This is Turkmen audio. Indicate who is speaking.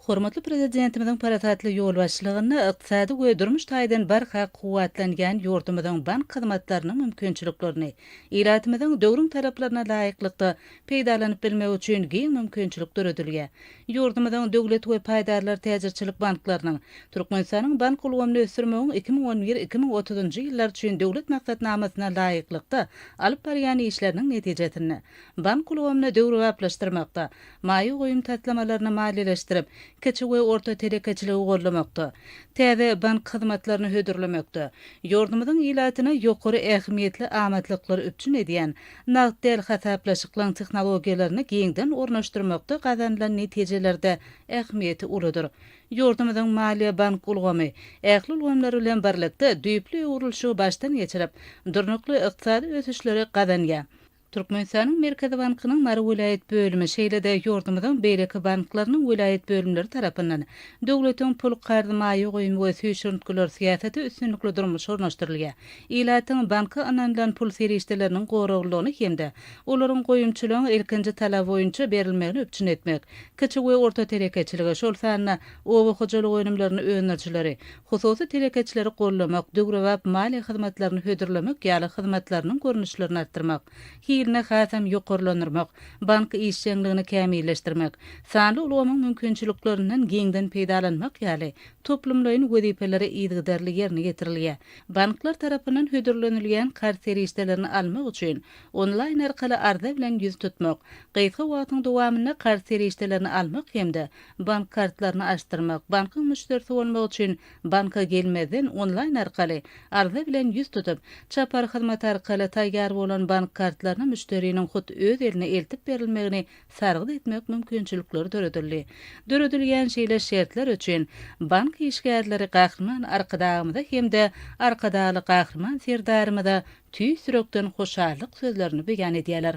Speaker 1: Hormatly Prezidentimiziň parasatly ýolbaşçylygynda ykdysady we durmuş taýdan barha kuwwatlanýan ýurdumyzyň bank hyzmatlarynyň mümkinçiliklerini ilatymyzyň döwrüň talaplaryna laýyklykda peýdalanyp bilmegi üçin giň mümkinçilik döredilýär. Ýurdumyzyň Döwlet we paýdarlar täjirçilik banklarynyň Türkmenistanyň bank ulgamyny ösdürmegiň iki müň on bir-iki müň otuzynjy ýyllar üçin Döwlet maksatnamasyna laýyklykda alyp barýan işleriniň netijesinde bank ulgamyny döwrebaplaşdyrmakda, maýa goýum taslamalaryny maliýeleşdirip, kiçi we orta telekeçiligi goldamakda, täze bank hyzmatlaryny hödürlemekde, ýurdumyzyň ilatyna ýokary ähmiýetli amatlyklary üpjün edýän nagt däl hasaplaşyklaryň tehnologiýalaryny giňden ornaşdyrmakda gazanylan netijeler-de ähmiýeti uludyr. Ýurdumyzyň maliýe-bank ulgamy ähli ulgamlar bilen birlikde düýpli öwrülişigi başdan geçirip, durnukly ykdysady ösüşleri gazanýar. Türkmenistanyň Merkezi bankynyň Mary welaýat bölümi, şeýle-de ýurdumyzyň beýleki banklarynyň welaýat bölümleri tarapyndan döwletiň pul, karz, maýa goýum we süýşürintgiler syýasaty üstünlikli durmuşa ornaşdyrylýar. Ilatyň banka ynanylan pul serişdeleriniň goraglylygyny hem-de olaryň goýumçylygyň ilkinji talaby boýunça berilmegini üpjün etmek, kiçi we orta telekeçiligi, şol sanda oba hojalyk önümlerini öndürijileri, hususy telekeçileri goldamak, döwrebap maliýe hyzmatlaryny hödürlemek ýaly hyzmatlarynyň görnüşlerini artdyrmak, hilini hasam ýokarlandyrmak, bank işjeňligini kämilleşdirmek, sanly ulgamyň mümkinçiliklerinden giňden peýdalanmak ýaly toplumlaýyn wezipeleri yzygiderli ýerine ýetirilýär. Banklar tarapyndan hödürlenilýän karz serişdelerini almak üçin onlaýn arkaly arza bilen ýüz tutmak, gysga wagtyň dowamynda karz serişdelerini almak hem-de Bank kartlaryny açdyrmak, bankyň müşderisi bolmak üçin banka gelmezden onlaýn arkaly arza bilen ýüz tutup, çapar hyzmaty arkaly taýýar bolan bank kartlaryny müşderiniň hut öz eline eltip berilmegini sargyt etmek mümkinçilikleri döredildi. Döredilýän şeýle şertler üçin bank işgärleri Gahryman Arkadagymyza hem-de Arkadagly Gahryman Serdarymyza tüýs ýürekden hoşallyk sözlerini beýan edýärler.